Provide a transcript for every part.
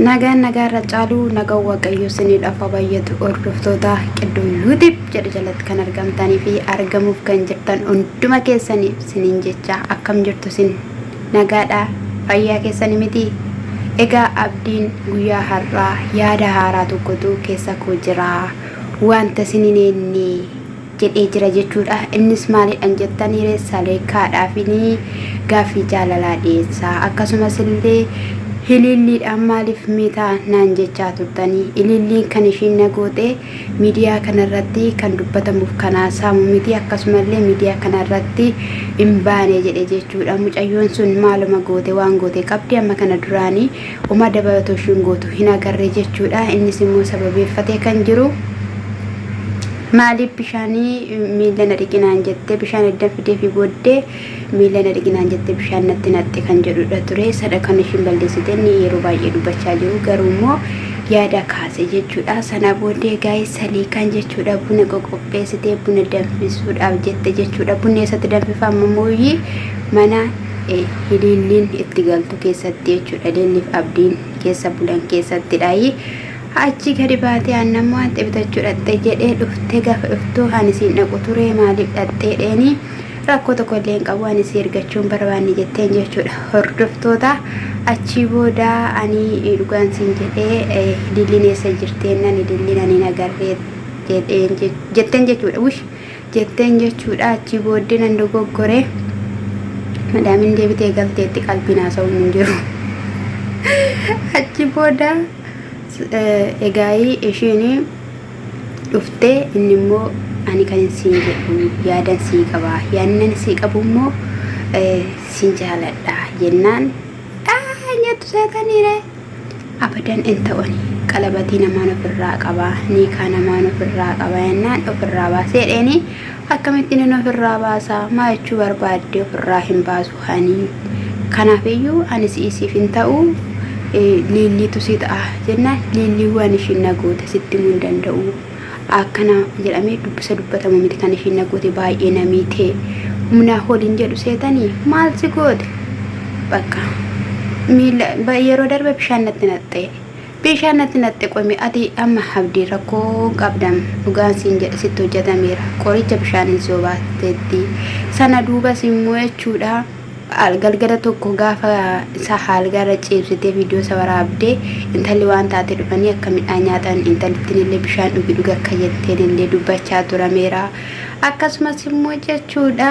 Nagaan nagaa irra caalu nagaan waaqayyoo siniidhaaf haa baay'atu hordoftoota qiddoo yuutib jedha jalatti kan argamtanii fi argamuuf kan jirtan hunduma keessanii siniin jecha akkam jirtu sin nagaadha fayyaa keessanii miti egaa abdiin guyyaa har'aa yaada haaraa tokkotu keessa koo jira wanta siniin eenne jedhee jira jechuudha. Innis maalidhan jettanii ree salee kaadhaafinii gaaffii jaalalaa dhiyeessaa akkasumas illee hiliilliidhaan maaliif miitaa naan jechaa turtanii iliilliin kan ishiin na gootee miidiyaa kanarratti kan dubbatamuuf kanaa saamu miti akkasumallee miidiyaa kanarratti hin baane jedhe jechuudha mucayyoon sun maaluma goote waan goote qabdi amma kana duraanii Homaa dabalatu ishiin gootu hin agarre jechuudha. Innis immoo sababeeffatee kan jiru maaliif bishaanii miila na dhiqinaan jette bishaan eddan fidee fi booddee miila na dhiqinaan jette bishaan natti naqxe kan jedhudha ture. Sadha kan ishiin balleessite inni yeroo baay'ee dubbachaa jiru garuu immoo yaada kaase jechuudha. Sana booddee gaa'ee salii kan jechuudha buna qoqopheessitee buna danfisuudhaaf jette jechuudha. Bunni eessatti danfifama mooyyii mana Hiliilliin itti galtu keessatti jechuudha. Hiliilliif abdiin keessa bulan keessattidhaayi. Achi gadi baatee aannan moo hanxi bitachuu dhaqxe jedhee dhufte gaafa dhuftu ani siin dhaqu ture maaliif dhaqxee dheeni rakkoo tokko illee hin qabu ani si ergachuun barbaanne jetteen jechuudha. Hordoftoota achii booda ani dhugaan siin jedhee hiliilliin eessa jirteennan hiliilliin ani hin agarree jedheen jetteen jechuudha. Wish jetteen jechuudha achii booddee nan dogoggore madaamin deebitee galteetti qalbiin haasa'uun hin jiru achi booda egaayii ishiin dhuftee inni immoo ani kan siin jedhu yaadan sii qaba yaadnan sii qabu immoo siin jaaladha jennaan aa nyattu seetaniiree abadan in ta'u ani qalabatii namaan ofirraa qaba niikaa namaan ofirraa qaba jennaan ofirraa baasee jedheeni akkamitti nin ofirraa baasa maa jechuu barbaadde ofirraa hin baasu ani kanaafiyyuu ani si'isiif hin ta'u eh, liilliitu si ta'a jennaan liilliiwwan ishiin na goote sitti himuu hin danda'u akkana jedhamee dubbisa dubbatama miti kan ishiin na goote baay'ee na miite humnaa holiin jedhu seetanii maal si goote bakka miila ba- yeroo darbe bishaan natti naqxe bishaan natti naqxe qomi ati amma abdii rakkoo qabdam dhugaan siin jedhe sitti hojjetameera qoricha bishaaniin si obaatteetti sana duubas immoo jechuudha Galgala tokko gaafa isaa haalgaarra ciibsitee viidiyoosa waraabde intalli waan taate dhufanii akka midhaan nyaatan intalittinillee bishaan dhugi dhugi akka jetteenillee dubbachaa turameera. Akkasumas immoo jechuudha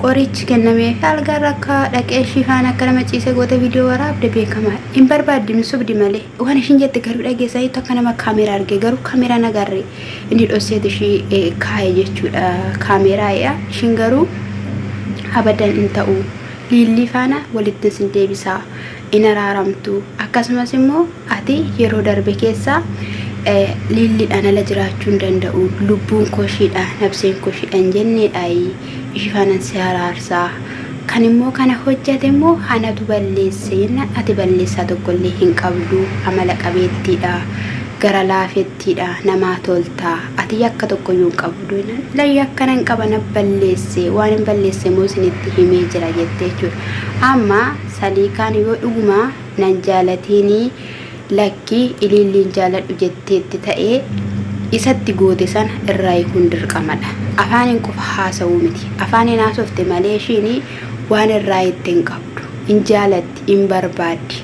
qorichi kennameef haalgaarra akka dhaqee ishii faana akka nama ciise goote viidiyoo waraabde beekamaa hin barbaaddi hin sobdi malee waan ishiin jette garuu dhageessaniitu akka nama kaameera arge garuu kaameeraan agarre. inni dhosseetu ishii eh, kaa'e jechuudha kaameeraa yaa ishiin garuu abadan hin ta'u liillii faana walitti sin deebisaa hin araaramtu akkasumas immoo ati yeroo darbe keessaa eh, liilliidhaan ala jiraachuu hin danda'u lubbuun koshiidha nabseen koshiidha hin jenneedhaayi ishii faanan si araarsaa kan immoo kana hojjate immoo hanatu balleesse jennaan ati balleessaa tokkollee hin qabdu amala qabeettiidha gara laafetti Tiidha namaa toltaa ati yakka tokkoyyuu hin qabdu jennaan la yakka nan qaba na balleesse waan hin balleesse immoo isinitti himee jira jette jechuudha amma saliikaan yoo dhuguma nan jaalatiinii lakki iliilliin jaaladhu jetteetti ta'ee isatti goote sana irraa hiikuun dirqamadha afaaniin qofa haasa'uu miti afaaniin haasofte malee ishiin waan irraa hitte hin qabdu hin jaalatti hin barbaaddi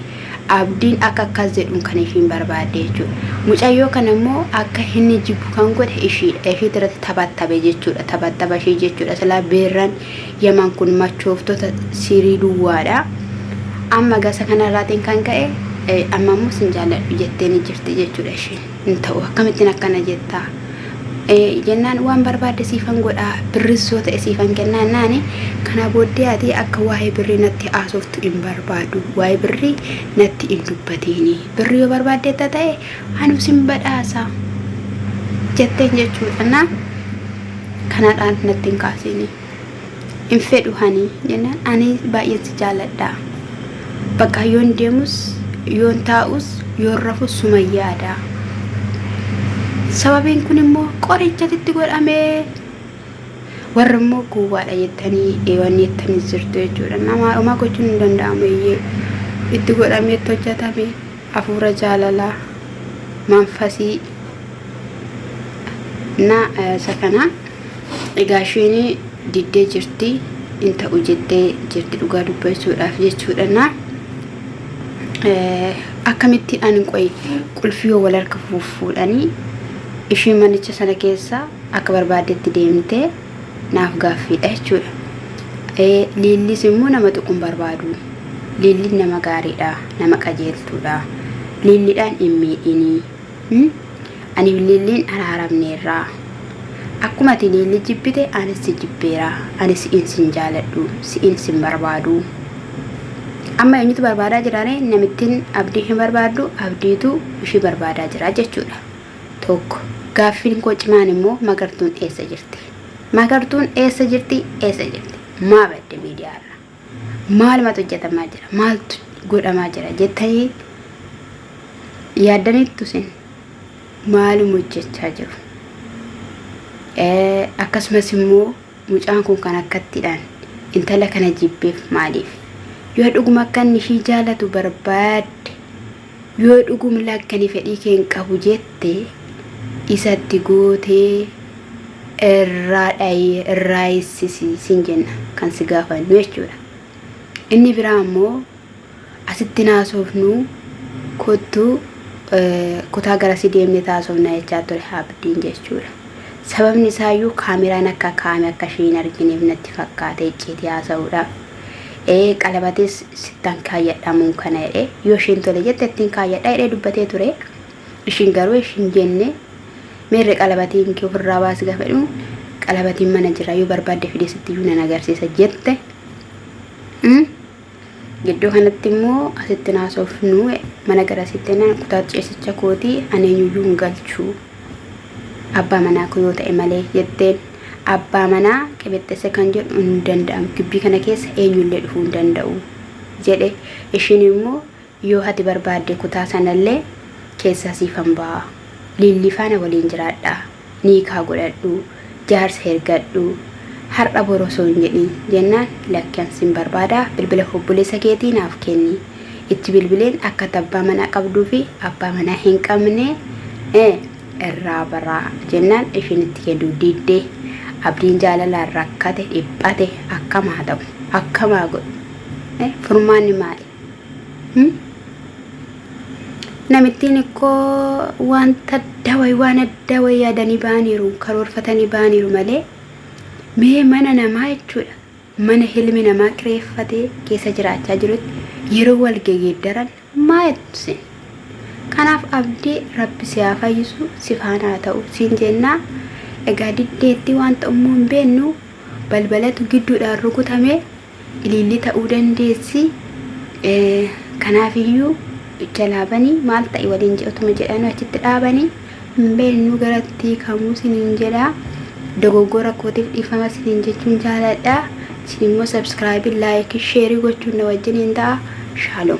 Abdiin akka akkas jedhuun kan ishiin barbaadde jechuudha. Mucayyoo kana immoo akka inni jibbu kan godhe ishiidha. Ishiitu irratti taphattabe jechuudha. Taphattaba ishii jechuudha. Silaa beerran yaman kun machooftota sirii duwwaadha. Amma gasa kanarraatiin kan ka'e amma immoo sin jaalladhu jettee ni jirti jechuudha ishiin. hin ta'u akkamittiin akkana jetta jennaan waan barbaadde siifan godha birris yoo ta'e siifan kennaa naani kanaa booddee ati akka waa'ee birrii natti haasoftu hin barbaadu waa'ee birrii natti hin dubbatiini birrii yoo barbaaddeetta ta'e anu sin badhaasa jetteen jechuudha na kanaadhaan natti hin kaasiini. hin fedhu hanii jennaan ani baay'een si jaaladha bakka yoon deemus yoon taa'us yoon rafu suma yaada sababiin kun immoo qorichatitti godhamee warri immoo gowwaadha jettanii eewanni jettanii jirtu jechuudha namaa dhumaa gochuun hin danda'amu iyyee itti godhamee itti hojjetame Afuura jaalalaa, manfasii, na isa kana egaa isheen diddee jirti in ta'u jettee jirti dhugaa dubbachuudhaaf jechuudha na akkamitti ani qoy qulfii yoo wal harka fuudhanii isheen manicha sana keessa akka barbaaddetti deemtee naaf gaaffiidha jechuudha. Ee, Liillis immoo nama tuquun barbaadu. Liilliin nama gaariidha, nama qajeeltuudha. Liilliidhaan hin miidhinii. Hmm? Ani Liilliin araaramneerra. Akkuma ati Liillii jibbite anis si jibbeera. Ani si'in sin jaaladhu, si'in sin barbaadu. Amma eenyutu barbaadaa jiraaree? Namittiin abdii hin barbaaddu, abdiitu ishii barbaadaa jira jechuudha. 1. Gaaffiin koo cimaan immoo Magartuun eessa jirti? Magartuun eessa jirti? Eessa jirti? Maa badde miidiyaa irraa? Maalumatu hojjetamaa jira? Maaltu godhamaa jira? Jettanii yaaddaniittu isin maaluma hojjechaa jiru? Akkasumas immoo Mucaan kun kan akkattidhaan intala kana jibbeef maaliif? Yoo dhuguma akka inni ishii jaalatu barbaadde, yoo dhugumla akka inni fedhii kee hin qabu jette, isatti gootee irraa dhayi, irraa eessisi sin jenna kan si gaafannu jechuudha. Inni biraa ammoo Asittin haasoofnu kottu kutaa garasii deemneet haasofna jechaa ture Abdiin jechuudha. Sababni isaayyuu kaameraan akka kaa'ame akka ishee hin argineef natti fakkaate icciitii haasa'uudhaaf. Ee qalabatis sittan kaayyadha muun kana jedhe yoo isheen tole jette ittiin kaayyadha jedhee dubbatee ture. Ishiin garuu ish hin jenne meerre qalabatiin kee ofirraa baasi gaafa jedhu qalabatiin mana jira yoo barbaadde fidee sitti iyyuu nan agarsiisa jette. Gidduu kanatti immoo asitti naasofnu mana gara asitti ennaan kutaa ciisicha kootii ani eenyuyyuu hin galchu abbaa manaa koo yoo ta'e malee jetteen abbaa manaa qibixxesse kan jedhu hin danda'amu gibbii kana keessa eenyullee dhufuu hin danda'u jedhe ishiin immoo Yoo ati barbaadde kutaa sanallee keessaa siifan ba'a. Liillii faana waliin jiraadha. Niikaa godhadhu. Jaarsa ergadhu. Har'a bor osoo hin jedhin, jennaan lakki an sin barbaada bilbila hobboleessa keetii naaf kenni. Itti bilbileen akka ati abbaa manaa qabduu fi abbaa manaa hin qabne irraa bara, jennaan ishiin itti kennuu didde. Abdiin jaalalaan rakkate, dhiphate. Akkam haa ta'u? Akkam haa godhu? Furmaanni maali? Namittiin ikkoo wanta adda wayi waan adda wayi yaadanii ba'aniiru karoorfatanii ba'aniiru malee mee mana namaa jechuudha mana hilmi namaa kireeffatee keessa jiraachaa jirutti yeroo wal geggeeddaran maa jettu sin kanaaf abdii rabbi si haa fayyisu si faana haa ta'u siin jennaa egaa diddeetti wanta ummuu hin beennu balbalatu gidduudhaan rukutamee Ilillii ta'uu dandeessi. Kanaafiyyuu jalaa bani maal ta'i waliin jedhutuma jedhanii achitti dhaabani. Hin beeknu garatti kamuu siniin jedha. Dogoggora kootiif dhiifama siniin jechuun jaaladha. Isin immoo sabskraayibii, laayikii, sheerii gochuun na wajjiniin ta'a. Shaaloom.